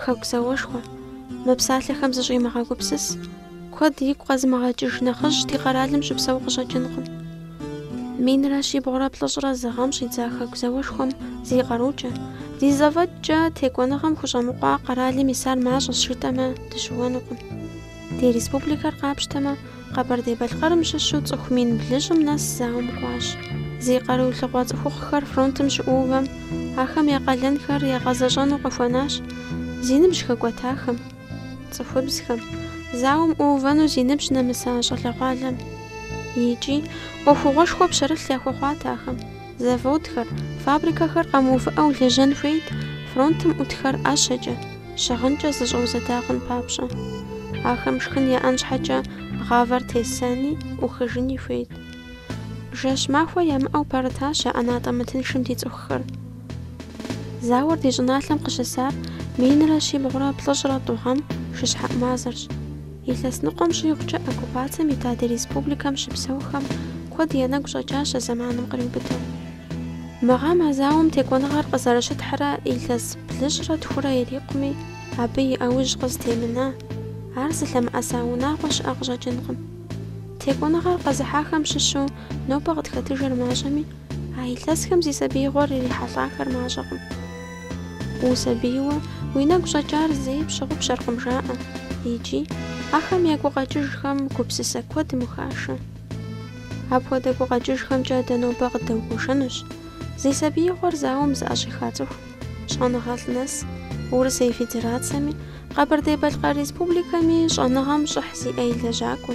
Хэку зауэшхуэ. Мы псалъэхэм зыщӏимыгъэгупсыс, куэд игу къэзымыгъэкӏыж нэхъыжь ди къэралым щыпсэу къыщӏэкӏынкъым. Минрэ щибгъурэ плӏыщӏрэ зы гъэм щӏидза Хэку зауэшхуэм зи къарукӏэ, ди зэфӏэкӏкӏэ текӏуэныгъэм хущӏэмыкъуа къэралым исар мащӏэщ жытӏэмэ дыщыуэнукъым. Ди республикэр къапщтэмэ, Къэбэрдей-Балъкъэрым щыщу цӏыху мин блыщӏым нэс зауэм кӏуащ. Зи къаруилъыгъуэ цӏыхухъухэр фронтым щыӏуувэм, ахэм я къалэнхэр ягъэзэщӏэну къыхуэнащ зи ныбжь хэкӏуэтахэм, цӏыхубзхэм, зауэм ӏуувэну зи ныбжь нэмыса щӏалэгъуалэм. Икӏи ӏуэхугъуэшхуэ пщэрылъ яхуэхъуат ахэм. Заводхэр, фабрикэхэр къэмыувыӏэу лэжьэн хуейт фронтым ӏутхэр ӏэщэкӏэ, щыгъынкӏэ зэщӏэузэда хъун папщӏэ. Ахэм шхын яӏэн щхьэкӏэ гъавэр тесэни, ӏухыжыни хуейт. Жэщ махуэ ямыӏэу пэрытащ а ӏэнатӏэ мытыншым ди цӏыхухэр. Зауэр ди щӏыналъэм къыщысар минрэ щибгъурэ плӏыщӏрэ тӏу гъэм шыщхьэӏу мазэрщ. Илъэс ныкъуэм щӏигъукӏэ оккупацием ита ди республикэм щыпсэухэм куэд я нэгу щӏэкӏащ а зэманым къриубыдэу. Мы гъэм а зауэм текӏуэныгъэр къызэрыщытхьрэ илъэс блыщӏрэ тхурэ ирикъуми, абы и ӏэужь къызытемына, ар зылъэмыӏэса унагъуэ щыӏэ къыщӏэкӏынкъым. Текӏуэныгъэр къэзыхьахэм щыщу нобэ къытхэтыжыр мащӏэми, а илъэсхэм зи сабиигъуэр ирихьэлӏахэр мащӏэкъым. Усабийуэ уи нэгу щӏэкӏар зэи пщыгъупщэркъым жаӏэ. Икӏи, ахэм я гукъэкӏыжхэм гупсысэ куэдым ухашэ. Апхуэдэ гукъэкӏыжхэмкӏэ дэ нобэ къыддэгуэшэнущ зи сабиигъуэр зауэм зыӏэщӏиха цӏыху, щӏэныгъэлӏ нэс, Урысей Федерацэми, Къэбэрдей-Балъкъэр Республикэми щӏэныгъэм щӏыхь зиӏэ и лэжьакӏуэ.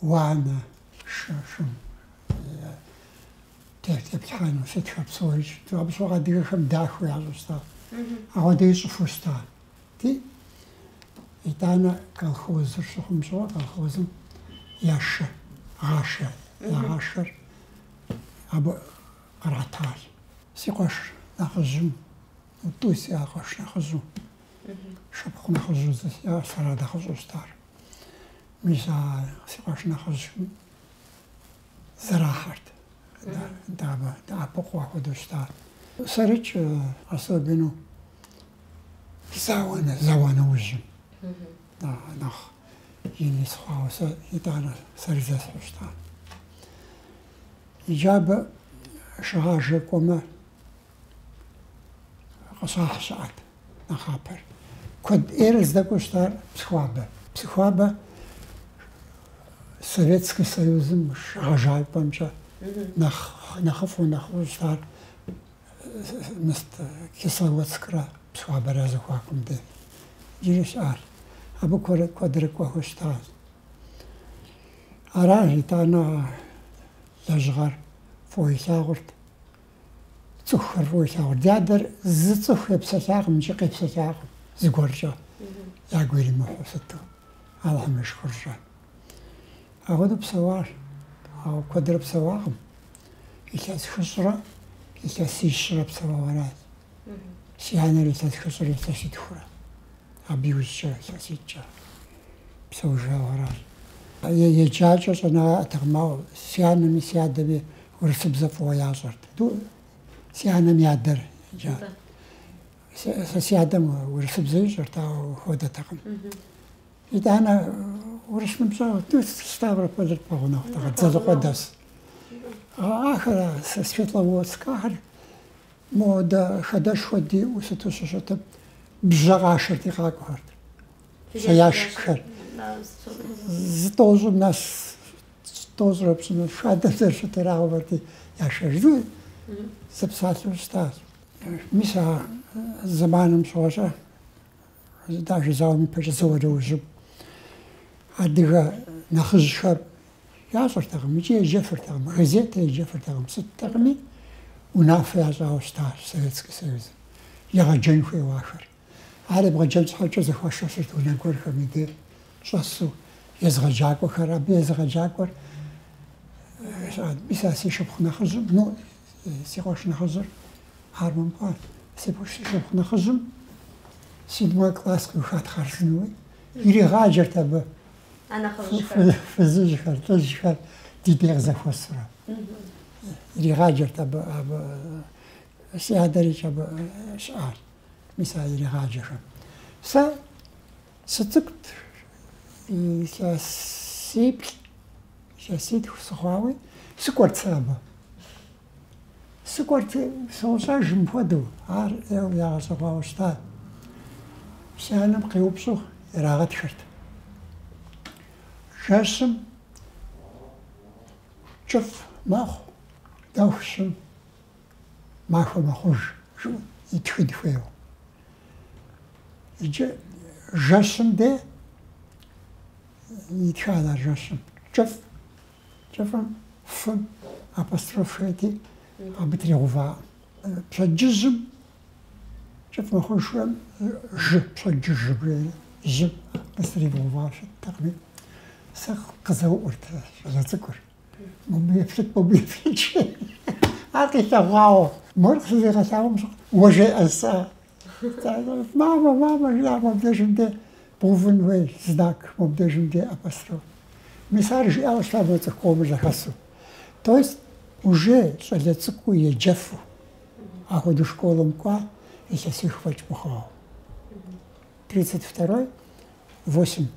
уанэ шы, шым теплъхьэну щытхэр псори щыту. Абы щыгъуэ адыгэхэм дахэу ящӏу щыта. Ахуэдэ ищӏыфу щыта. Ти? Итӏанэ колхозыр щыхъум щыгъуэ колхозым я шы гъажэ, ягъажэр абы къратар. Си къуэш нэхъыжьым, тӏу сиӏа къуэш нэхъыжьу, шыпхъу нэхъыжьу зы, сэрат нэхъыщӏу щытар. Мис а си къуэш нэхъыжьым зэрахьэрт. Дадэ дэӏэпыкъуу ахуэдэу щыта. Сэрикӏ, особенно зауэ, зауэ нэужьым. Нэхъ ин сыхъуауэ сэ итӏанэ сэри зесхьу щыта. Иджы абы шыгъажэ кӏуэмэ, Къыщахь щыӏэт нэхъапэр. Куэд ӏейрэ здэкӏуэу щытар Псыхуабэ. Псыхуабэ Советский Союзым шыгъэжапӏэмкӏэ нэхъыфӏу нэхъыфӏу щытар мис Кисловодскрэ Псыхуабэрэ зэхуакум де. Иджыри щыӏат. Абы куэрэ- куэдрэ кӏуэхэу щытащ. Аращ итӏанэ а лэжьыгъэр фӏыуэ илъагъурт. цӏыхухэр фӏыуэ илъагъурт. Ди адэр зы цӏыху епсэлъакъым икӏи къепсэлъакъым зыгуэркӏэ, ягу иримыхьу сыту, Алыхьым и шыкуркӏэ. Ахуэдэу псэуащ, ауэ куэдрэ псэуакъым. Илъэс хыщӏрэ илъэс ищрэ псэуауэ аращ. Си анэр илъэс хыщӏрэ илъэс итхурэ, абы иужькӏэ илъэс итӏкӏэ псэужауэ аращ. Еджакӏэ, щӏэныгъэ яӏэтэкъым, ауэ си анэми си адэми Урысыбзэ фӏыуэ ящӏэрт. Си анэм и адэр еджат. Сэ си адэм урысыбзэ ищӏэрт, ауэ хуэдэтэкъым. Итӏанэ урыс ныбжьэгъу Ставропольыр пэгъунэгъутэкъэ, Дзэлыкъуэдэс. Ахэр Светловодскэхэр модэ хадэшхуэ диӏэу сыту щыщытым бжьэ къашэрти къакӏуэхэрт. Сэ ящикхэр. Зытӏощӏым нэс Тӏощӏрэ пщӏыныр хадэм зэрыщыту ирагъэувэрти яшэжу зэпсалъэу щытащ. Мис а зэманым щыгъуэщӏэ даже зауэм ипэкӏэ зауэ нэужьым адыгэ нэхъыжьхэр ящӏыртэкъым, икӏи еджэфыртэкъым, газетэ еджэфыртэкъым, сыттэкъыми унафэ ящӏауэ щытащ Советский Союзым егъэджэн хуейуэ ахэр. Ар ебгъэджэн щхьэкӏэ зэхуашэсырт унэ гуэрхэм и деж щӏэсу езыгъэджакӏуэхэр. Абы езыгъэджакӏуэр мис а си шыпхъу нэхъыжьым, ну, си къуэш нэхъыжьыр армэм кӏуат. Си шыпхъу нэхъыжьым седьмой класс къиухат, хъарзынэуи иригъаджэрт абы фызыжьхэр, лӏыжьхэр ди дей къызэхуэсурэ. Иригъаджэрт абы, абы си адэрикӏ абы щыӏащ. Мис а иригъаджэхэм. Сэ сыцӏыкӏут илъэсиплӏ, илъэситху сыхъуауи, сыкӏуэрт сэ абы. Сыкӏуэрт сощӏэж мыпхуэдэу, ар ӏейуэ ягъэщӏэгъуауэ щытат. Си анэм къеупщӏу ирагъэтхырт. Жэщым кӏыфӏ мэхъу, дэху щым. Махуэ мэхъуж, жыӏэу итхыд хуейуэ. Иджы жэщым де итхад а жэщым. Кӏыфӏ. Кӏыфӏым фым апостроф хуейти, абы тригъувакъым. Пщэдджыжьым кӏыфӏ мэхъужхэм жы, пщэдджыжь жыбжери, жьым къыстригъэува щыттэкъыми, сэ къызэуӏурт щӏалэ цӏыкӏур. Мыбы еплъыт, мыбы еплъыт, жи. Ар къилъэгъуауэ, мор къызэригъэлъагъуэм щыгъуэ жеӏэ сэ. Мамэ, мамэ, жиӏа мобдежым де бгъувын хуей знак, мобдежым де апостроф. Мис ар жиӏауэ щыта мы цӏыху къомыр зэхэсу. То есть уже щӏалэ цӏыкӏуу еджэфу ахуэдэу школым кӏуа илъэсих фӏэкӏ мыхъуауэ. 32-й, 8,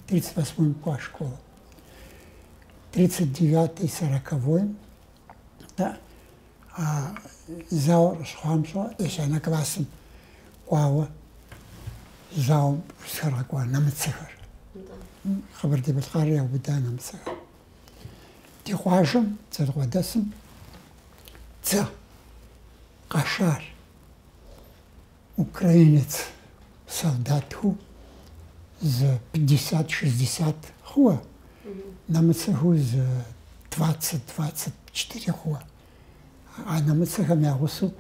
38-м кӏуа школым. тридцать девятой сороковойм да а зауэр къыщыхъуам щыгъуэ ещанэ классым кӏуауэ зауэм сытхэр къэкӏуа нэмыцэхэр Къэбэрдей-Балъкъэрыр яубыда нэмыцэхэр ди къуажэм Дзэлыкъуэдэсым дзэ къэшар Украинец солдатхэу зы пятьдесят, шестьдесят хъууэ, нэмыцэхэу зы двадцать, двадцать четыре хъууэ. А нэмыцэхэм я гъусэу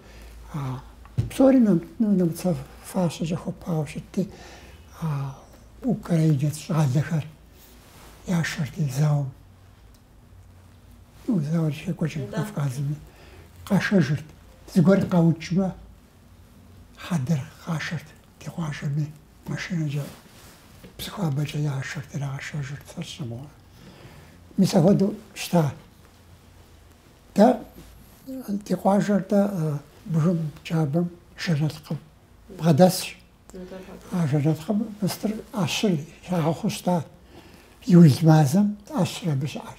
псори нэмыцэ фащэкӏэ хуэпауэ щытти, украинец щӏалэхэр яшэрти зауэм. Ну, зауэр щекӏуэкӏым Кавказыми, къашэжырт. Зыгуэр къаукӏмэ, хьэдэр къашэрт ди къуажэми, машинэкӏэ Псыхуабэкӏэ яшэрт, ирагъэшэжырт сэ сщӏэ мыгъуэ. Мис ахуэдэу щта. Дэ ди къуажэр дэ бгым джабэм жэрэлкъым бгъэдэсщ. А жэрэлкъым мыстыр ӏэщыр ягъэхъуу щта. Июль мазэм ӏэщыр абы щыӏэр.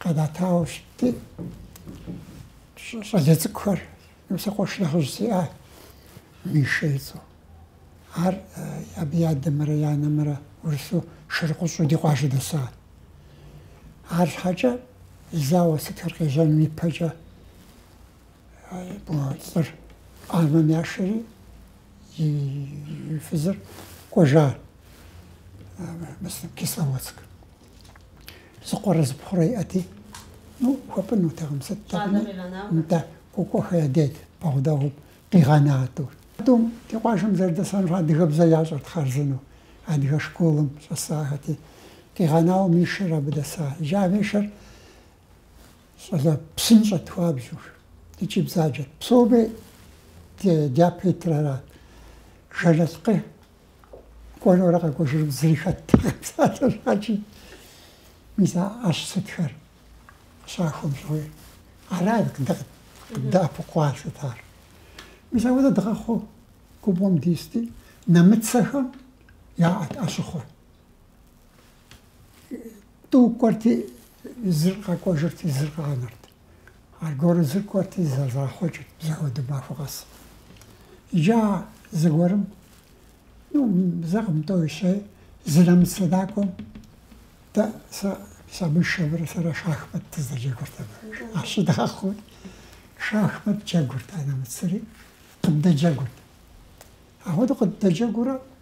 Къэнатауэ щытти, щӏалэ цӏыкӏухэр, сэ къуэш нэхъыжь сиӏа, Мишэ и цӏэу. Ар абы и адэмрэ и анэмрэ урысу шырыкъущӏэу ди къуажэ дэса. Арщхьэкӏэ зауэ сытхэр къежьэным ипэкӏэ мо лӏыр армэм яшэри, и фызыр кӏуэжа Кисловодск. Зыкъуэрэ зыпхъурэ иӏэти, ну, хуэпӏынутэкъым, сыттэкъыми, нтӏэ, Кӏуэкӏуэхэ я деж, бэгъудэӏуэу къигъэна а тӏур. Тӏум ди къуажэм зэрыдэсэнур адыгэбзэ ящӏэрт хъарзынэу, адыгэ школым щӏэсахэти. Къигъэнауэ Мишэр абы дэса. Иджы а Мишэр щӏалэ псынщӏэт, хуабжьу, икӏи бзаджэт. Псоми дяпэ итыр арат. Жэртэкъэ Кӏуэнурэ къэкӏуэжыным зыри хэттэкъым, псалъэм щхьэкӏэ. Мис а ӏэщ сытхэр щахуэм щыгъуи, ара къыддэӏэпыкъуа сытар. Мис апхуэдэ дгъэхъуу губгъуэм дисти, нэмыцэхэм яӏэт ӏэщыхъуэ. Тӏу кӏуэрти, зыр къэкӏуэжырти, зыр къагъанэрт. Аргуэру зыр кӏуэрти, зэрагъэхъуэкӏырт апхуэдэу махуэ къэс. Иджы а зыгуэрым, ну, зэкъым, тӏэу, щэ, зы нэмыцэ накӏуэм дэ, сэ, мис а Мишэмрэ сэрэ шахмэт дыздэджэгурт абы. Ӏэщ дгъэхъуу шахмэт джэгурт а нэмыцэри, къыддэджэгурт. Ахуэдэу къыддэджэгуурэ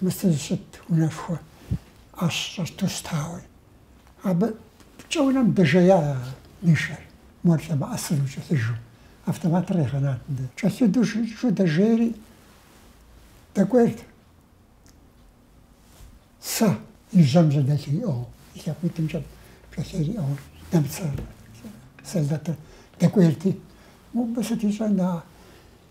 Мыцыз щыт унэшхуэ ӏэщ щӏэту щытауэ. Абы пкӏэунэм дэжея Мишэр, мор лъэмыӏэсыну кӏэлъыжу. Автоматыр къигъэнат мыдэ. Кӏэлъыду щыӏэу дэжейри, дэкӏуейрт. Сэ и жьэм жьэдэлъу иӏыгъыу, и лъакъуитӏымкӏэ пкӏэлъейр иӏыгъыу нэмыцэ солдатыр дэкӏуейрти, Мыбы сыт ищӏэн, а?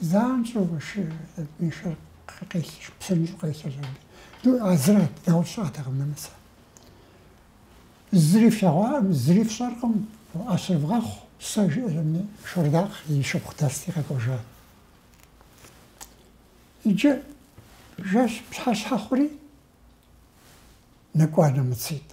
Занщӏэу шы, Мишэр къелъэщ, псынщӏэу къелъэщ абы. Ду, а зыр а дауэ фщӏатэкъым нэмыцэ. Зыри флъэгъуакъым, зыри фщӏэркъым, ӏэщыр вгъэхъу, сэ, жиӏэри, Шордакъ и шыпхъу дэсти къэкӏуэжат. Иджы жэщ пщыхьэщхьэ хъури, нэкӏуа нэмыцитӏ.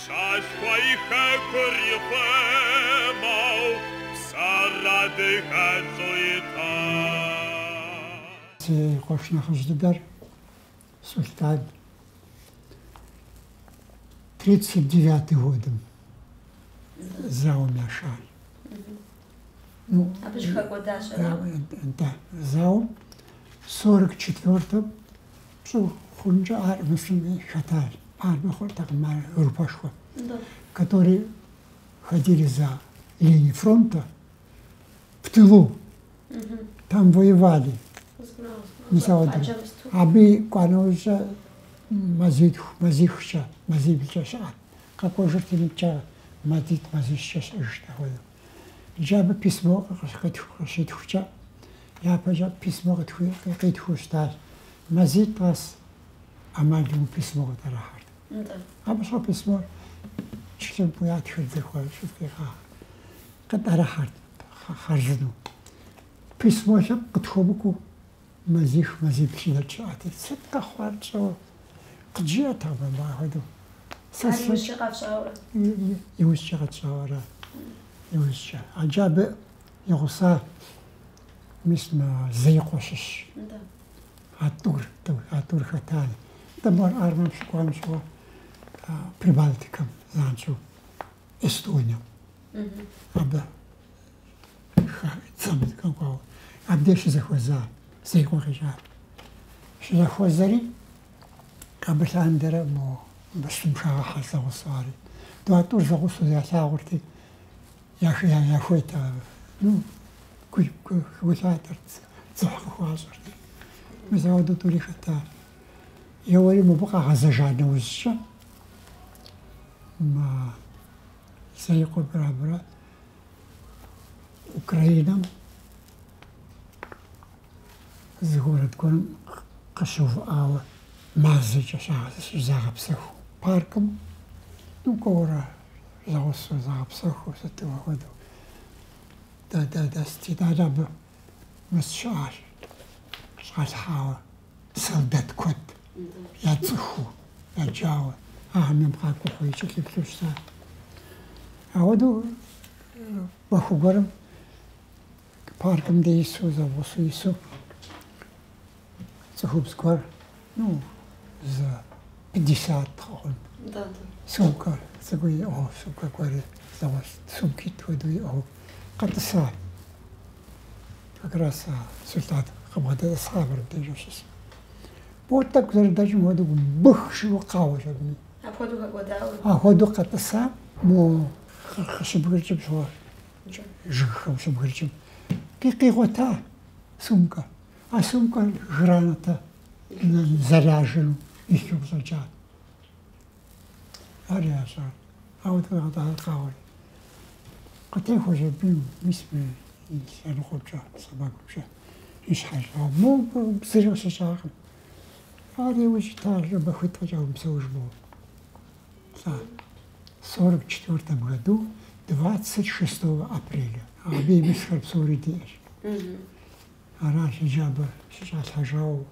Пщӏащхъуэ и хэкур ихъумэу псэр адыгэлӏу ита. Си къуэш нэхъыжь дыдэр Сулътӏан тридцать девятый годым зауэм яшар. Абы щыхэкӏуэда щӏыналъэр? Зауэм сорок четвёртэм псо хъункӏэ армэм хэтащ. Армэ хъуртэкъым ар группэшхуэ, которые ходили за линии фронта в тылу. Там воевали. Мис ауэ абы кӏуа нэужькӏэ мазитху, мазихкӏэ, мазиблкӏэ щыӏэт. Къэкӏуэжырти мыбыкӏэ мазитӏ, мазищкӏэ щыӏэжырт апхуэдэу. Иджы абы письмо къыщитхукӏэ, япэкӏэ письмо къитхыу щытащ. Мазитӏ къэс ӏэмал имыӏэу письмо къытӏэрыхьэрт. Абы щхьэу письмор члымпӏэу ятхыр зыхуэ щӏыфӏигъа къытӏэрыхьэрт хъарзынэу. Письмо лъэпкъ къытхуэмыкӏуэу Мазих мазибл щыдэкӏ щыӏэт. Сыт къэхъуар тщӏэуэ? Къыджиӏэтэкъым абы ахуэдэу. Сэ Ар си- иужькӏэ къэфщӏауэ. Иужькӏэ къэтщӏауэ ара? Иужькӏэ. Иджы абы и гъуса, мис, мы Зеикъуэ щыщщ. Нтӏэ. А тӏур, тӏу, а тӏур хэтаи. Нтӏэ, мыбы ар армэм щыкӏуам щыгъуэ а, Прибалтикэм, занщӏэу Эстонием. Абы. Абдеж щызэхуэза Зеикъуэ къикӏа. Щызэхуэзэри абы лъандэрэ мо бэсым шагъыхьэ зэгъусэу ари. Да, а тӏур зэгъусэу ялъагъурти, яхуейт ар. Ну, гу лъатэрт, дзыхь къыхуащӏырти. Мис ауэдэу тӏури хэта. Еуэри мыбы къагъэзэжа нэужькӏэ, мы зеикъуэмрэ абырэ. Украинэм зы город гуэрым къыщыувыӏауэ мазэкӏэ щызагъэпсэху паркым ну кӏуэурэ зэгъусэу загъэпсэху сыту хуэдэу. Да да да сытитӏакӏэ абы мыс щыӏащ щӏалъхьауэ. Солдат куэд яцӏыхуу яджауэ ахэм къакӏухьу якӏэлъыплъу щытат. Ауэдэу махуэ гуэрым паркым дэсу, зэгъусу ису цӏыхубз гуэр, ну, за пятьдесят хъун. Да, да. Сумкэ цӏыкӏу иӏыгъыу, сумкэ гуэри зэгъуэщ, сумкитӏ хуэдэу иӏыгъыу къэтӏысат. Как раз солдат къыбгъэдэтӏысхьа абырым деж а щысым. Мо тӏэкӏу зэрыдэкӏым хуэдэу бых жиӏэу къэуащ абы. Апхуэдэу хэкӏуэдауэ. Апхуэдэу къэтӏыса мо къыщыбгыркӏым щыгъуэ жыгхэм щыбгыркӏым къигъуэта сумкэ. А сумкэр гранатэ заряжену илъу къыщӏэкӏа. Ар ящӏа. Ауэ тхуегъэдагъэкъауэ къытехуэщ абы мис мы лъэныкъуэмкӏэ, сэмэгумкӏэ и щхьэщ. Мобы зыри къыщыщӏакъым. Ар иужь щыта махуитӏкӏэ мэпсэуж мобэ. Лӏа 44 году 26 апреля. Абы и мисхэр псори диӏэщ. Аращи абы щыщӏалъхьэжауэ.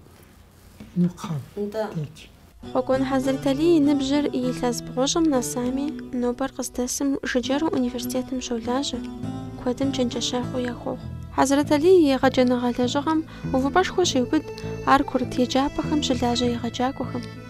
Хъуэкӏуэн Хьэзрэталий и ныбжьыр илъэс бгъущӏым нэсами, нобэр къыздэсым жыджэру университетым щолажьэ, куэдым чэнджэщэгъу яхуохъу. Хьэзрэталий и егъэджэныгъэ лэжьыгъэм увыпӏэшхуэ щеубыд ар курыт еджапӏэхэм щылажьэ егъэджакӏуэхэм.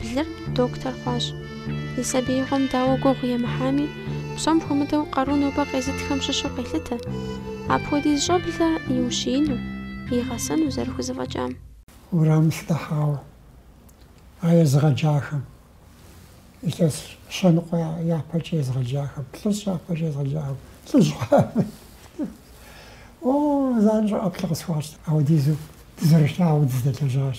Блыр доктор хъуащ. И сабиигъуэм дауэ гугъу емыхьами, псом хуэмыдэу къару нобэ къезытхэм щыщу къелъытэ. Апхуэдиз щӏэблэ иущиину, игъэсэну зэрыхузэфӏэкӏам. Уэрам сыдыхьауэ а езгъэджахэм, илъэс щэныкъуэ япэкӏэ езгъэджахэм, плӏыщӏ япэкӏэ езгъэджахэм, лӏыжь хъуами, О, занщӏэу ӏэплӏэ къысхуащӏ, апхуэдизу дызэрылъагъуу дыздэлэжьащ.